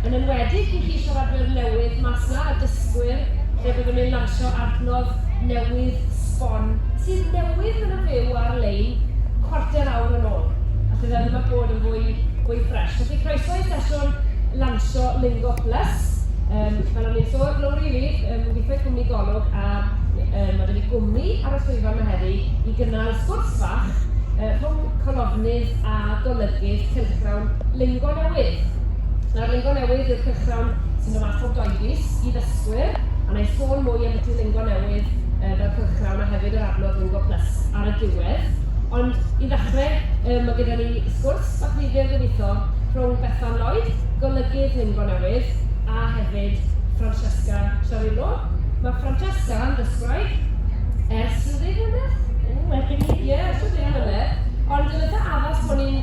yn enwedig i chi siaradwyr newydd mas 'na a dysgwyr lle byddwn ni'n lansio adnodd newydd sbon sydd newydd yn y fyw ar-lein cwarter awr yn ôl a fydda ddim a bod yn fwy fwy ffresh. Felly croeso i sesiwn lansio Lingo Plus. Um, fel o'n i'n sôn, Lowri Reid, um, gweithio cwmni Golwg a um, mae wedi gwmni ar y swyddfa yma heddi i gynnal sgwrs fach uh, rhwng colofnydd a golygydd cylchgrawn Lingo Newydd. Yn arlungo newydd i'r cyson sy'n ymateb gyhoeddus i ddysgwyr, a wna i sôn mwy am y duolingo newydd yy fel cylchgrawn a hefyd yr adnodd Lingo Plus ar y diwedd. Ond i ddechrau, yy, mae gyda ni sgwrs bach ddifyr gobeithio rhwng Bethan Lloyd, golygydd Lingo Newydd, a hefyd Francesca Ciarillo. Mae Francesca yn ddysgwraig ers rhyw ddeg mlynedd? Ww, erbyn hyn? Ie, rhyw ddeg mlynedd. Ond yn eitha' addas bod ni'n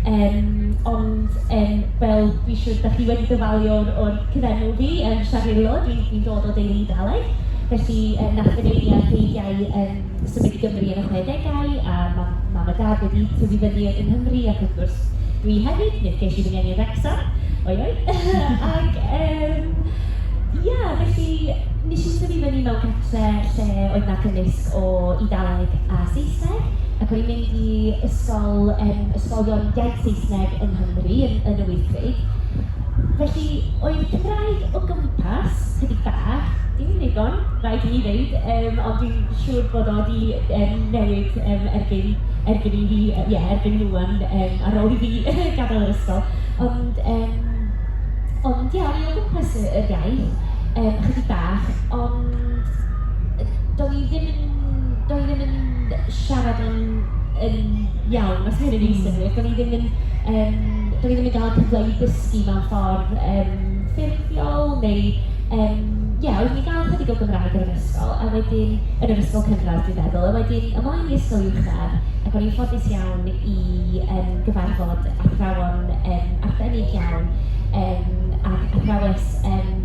Yym ond yym fel dwi'n siŵr dach chi wedi dyfalu o'r o'r cyfenw fi, yym Siarillo, dwi'n dwi'n dod o deulu Iddewig, felly yy wnaeth fy nheulu a'r Creigiau yym symud i Gymru yn y chwedegau, a ma' mam a dad wedi tyfu fyny yng Nghymru ac wrth gwrs dwi hefyd, mi ges i fy ngeni yn Wrecsam, oi oi! Ac yym ia, felly wnes i tyfu fyny mewn cartre' lle oedd 'na cymysg o Eidaleg a Saesneg, ac o'n i'n mynd i ysgol, yym, ysgolion iaith Saesneg yng Nghymru, yn yn y Wyddgrug. Felly, oedd Cymraeg o gwmpas, chydig bach, dim yn ddigon, rhaid i mi ddeud, yym, ond dwi'n siŵr bod o 'di yym newid yym erbyn erbyn i fi, yy ie, erbyn nhw ŵan, yym, ar ôl i fi gadael yr ysgol. Ond yym, ond ie, o'n i o gwmpas y yr iaith, yym, chydig bach. Ond do'n i ddim yn... do'n i ddim yn siarad yn yn iawn, os ma' hynny'n wneud synnwyr. Do'n i ddim yn yym... do'n i ddim yn gael cyfle i ddysgu mewn ffordd yym ffurfiol neu yym ie, oeddwn i'n gael ychydig o Gymraeg yn yr ysgol a wedyn... yn yr ysgol cynradd dwi'n meddwl, a wedyn ymlaen i ysgol uwchradd ac o'n i'n ffodus iawn i yym gyfarfod athrawon yym arbennig iawn yym ac athrawes yym...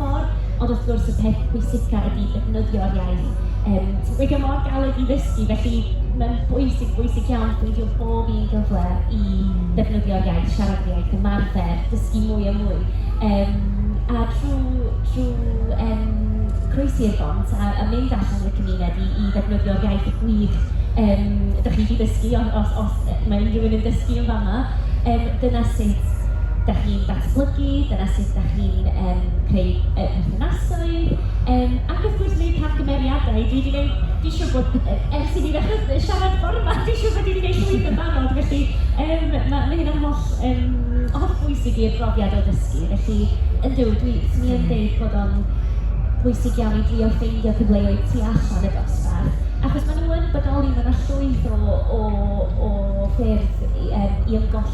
Mor... Ond wrth gwrs, y peth pwysica ydy defnyddio'r iaith. Yym, ti'n gwbod, 'di o mor galed i ddysgu, felly mae'n bwysig, bwysig iawn peidio â bob un cyfle i ddefnyddio'r iaith, siarad yr iaith, ymarfer, dysgu mwy a mwy. Yym, a trwy trwy yym croesi i'r bont a a mynd allan yn y cymuned i i ddefnyddio'r iaith gwych yym dach chi 'di ddysgu, os os os mae unrhyw un yn dysgu yn fan'na, yym dyna sut dach chi'n... datblygu, dyna sut dach chi'n yym creu yy perthnasoedd, yym ac wrth gwrs wneud camgymeriadau. Dwi 'di wneud... dwi'n siŵr bod e- ers i ni ddechrau siarad bore 'ma, dwi'n siŵr bod ni 'di wneud llwyth yn barod, felly yym ma' ma' hynna'n holl yym hollbwysig i'r brofiad o ddysgu. Felly, yndw, dwi... 'swn i yn deud bod o'n bwysig iawn i drio ffeindio cyfleoedd tu allan y dosbarth, achos maen nhw yn bodoli, ma' 'na llwyth o o o ffyrdd i yym i ymgolli.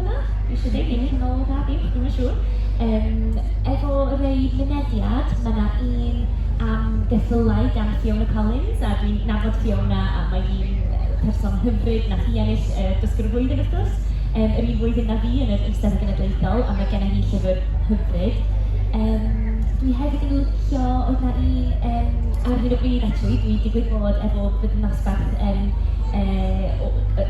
Isio deud hynny yn ôl da fi, dwi'm yn siŵr. Yym, efo rei mynediad, mae 'na un am geffylau gan Fiona Collins, a dwi'n nabod Fiona a mae hi'n person hyfryd, wnaeth hi ennill yy Dysgwr y Flwyddyn wrth gwrs, yym yr un flwyddyn 'na fi yn yr Eisteddfod Genedlaethol, a mae genna hi llyfr hyfryd. Yym, dwi hefyd yn licio, oedd 'na un yym ar hyn o bryd acshyli, dwi digwydd bod efo fy nosbarth yym yy o yy...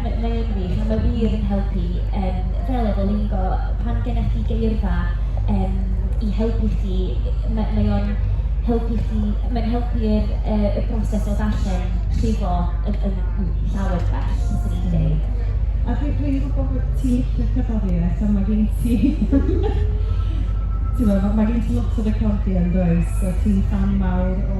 Mae mae yn wych a mae wir yn helpu yym fel efo lingo, pan gennych chi geirfa yym i helpu chi, mae mae o'n helpu chi... mae'n helpu yr yy y broses o ddarllen llifo yn yn yn llawer gwell, fyswn i'n dweud. A dwi dwi'n gwybod bod ti'n licio cerddoriaeth a mae gen ti timod, mae gen ti lot o recordiau yn does, a ti'n ffan mawr o...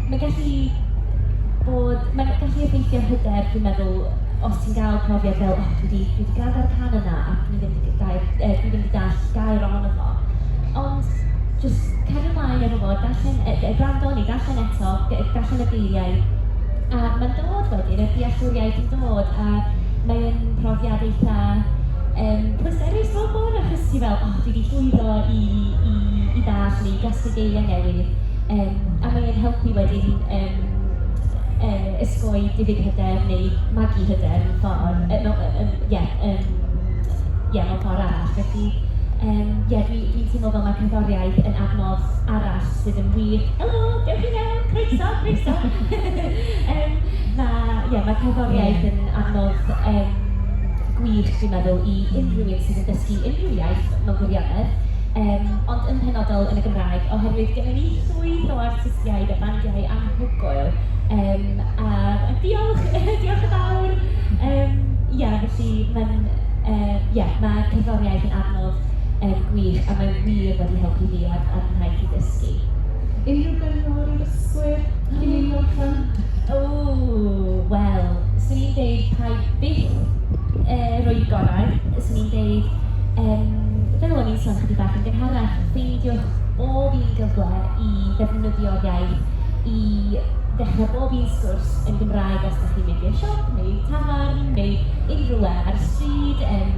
Mae'n gallu bod... mae'n gallu effeithio ar hyder, dwi'n meddwl, os ti'n gael profiad fel "O, dwi 'di dwi 'di gwrando'r cân yna a dwi ddim 'di dau- yy dwi ddim 'di dallt gair ohono fo". Ond jyst cario ymlaen efo fo, darllen e- yy gwrando neu ddarllen eto, g- darllen y geiriau, a mae'n dod wedyn, y dealltwriaeth yn dod, a mae o'n profiad eitha yym pleserus mewn ffordd, achos ti fel "O, dwi 'di llwyddo i i i ddallt neu i gasglu geiriau newydd". yym a mae e'n helpu wedyn yym yy osgoi diffyg hyder neu magu hyder mewn ffordd, yy mewn yy yym ie yym ie mewn ffordd arall. Felly yym ie dwi dwi'n teimlo fel mae cerddoriaeth yn adnodd arall sydd yn wir... Helo, dewch i mewn, croeso, croeso! yym na, ie ma' cerddoriaeth yn adnodd yym gwych dwi'n meddwl i unrhyw un sydd yn dysgu unrhyw iaith mewn gwirionedd. yym ond yn penodol yn y Gymraeg, oherwydd gennyn ni llwyth o artistiaid a bandiau anhygoel, yym a a diolch diolch yn fawr! Yym ia, felly mae'n yy ia mae cerddoriaeth yn adnodd yym gwych a mae wir wedi helpu fi a'r a'r ngwaith i ddysgu. Unrhyw gyngor i ddysgwyr cyn i ni orffen? Ww, wel, 'swn i'n deud paid byth yy rhoi'r gorau, 'swn i'n deud... Yym, fel o'n i'n sôn chydig bach yn gynharach, peidiwch â bob un gyfle i ddefnyddio'r iaith i ddechrau bob un sgwrs yn Gymraeg os dach chi'n mynd i'r siop neu i'r tafarn neu unrhyw le ar y stryd, yym,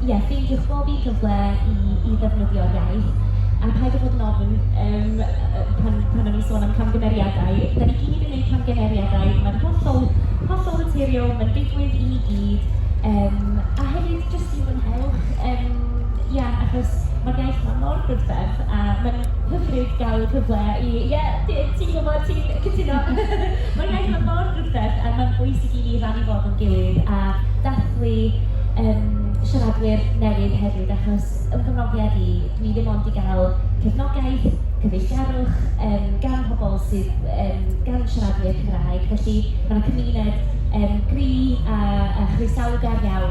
ie, ffeindiwch bob un cyfle i i ddefnyddio'r iaith, a paid â bod yn ofn, yym, yy pan pan o'n i'n sôn am camgymeriadau, dan ni gyd yn gwneud camgymeriadau, mae'n hollol hollol naturiol, mae'n digwydd i ni gyd, yym, a hefyd, Jyst i fwynhau, yym, ia, achos ma'r iaith 'ma mor brydferth, a mae'n hyfryd gael y cyfle i... Ie, ti ti'n gwybod, ti'n cytuno! Ma'r iaith 'ma mor brydferth, a mae'n bwysig i ni rannu fo efo'n gilydd a dathlu, yym, siaradwyr newydd hefyd, achos fy nghrofiad i, dwi ddim ond 'di gael cefnogaeth, cyfeillgarwch, yym, gan pobl sydd, yym, gan siaradwyr Cymraeg, felly ma' 'na cymuned, yym, gry' a a chroesawgar iawn.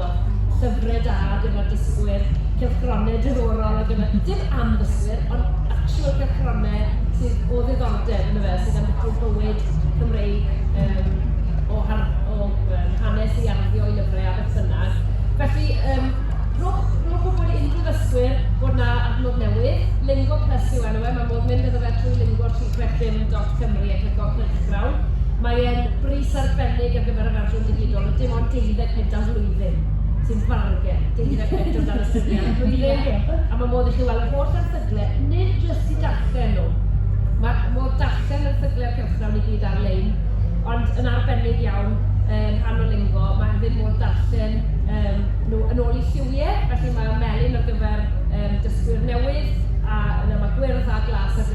Llyfrau da ar gyfer dysgwyr, cylchgronau diddorol ar gyfer... dim am ddysgwyr, ond actual cylchgronau sydd o ddiddordeb yndyfe, a sy'n ambiti'r bywyd Cymreig yym o har- o yym hanes i arddio i lyfrau a beth bynnag. Felly yym rhowch rhowch wybod i unrhyw ddysgwyr bod 'na adnodd newydd, Lingo Plus yw enw e, ma' modd mynd iddo fe trwy Lingo ti. Cwestiwn yn Dot Cymru ac yn Go Cylchgrawn. Mae e'n bris arbennig ar gyfer yr Arglwydd Ddigidol, a dim ond deuddeg punt am flwyddyn sy'n fargen, deuddeg punt o dan y syniad am flwyddyn, a mae modd i chi weld yr holl erthygle, nid jyst i darllen nhw. Mae modd darllen erthygle cylchgrawn i gyd ar-lein, ond yn arbennig iawn yn rhan o Lingo, mae hefyd modd darllen um, nhw yn ôl i lliwiau, felly mae melyn ar gyfer um, dysgwyr newydd, a yna mae gwyrdd a glas ar gyfer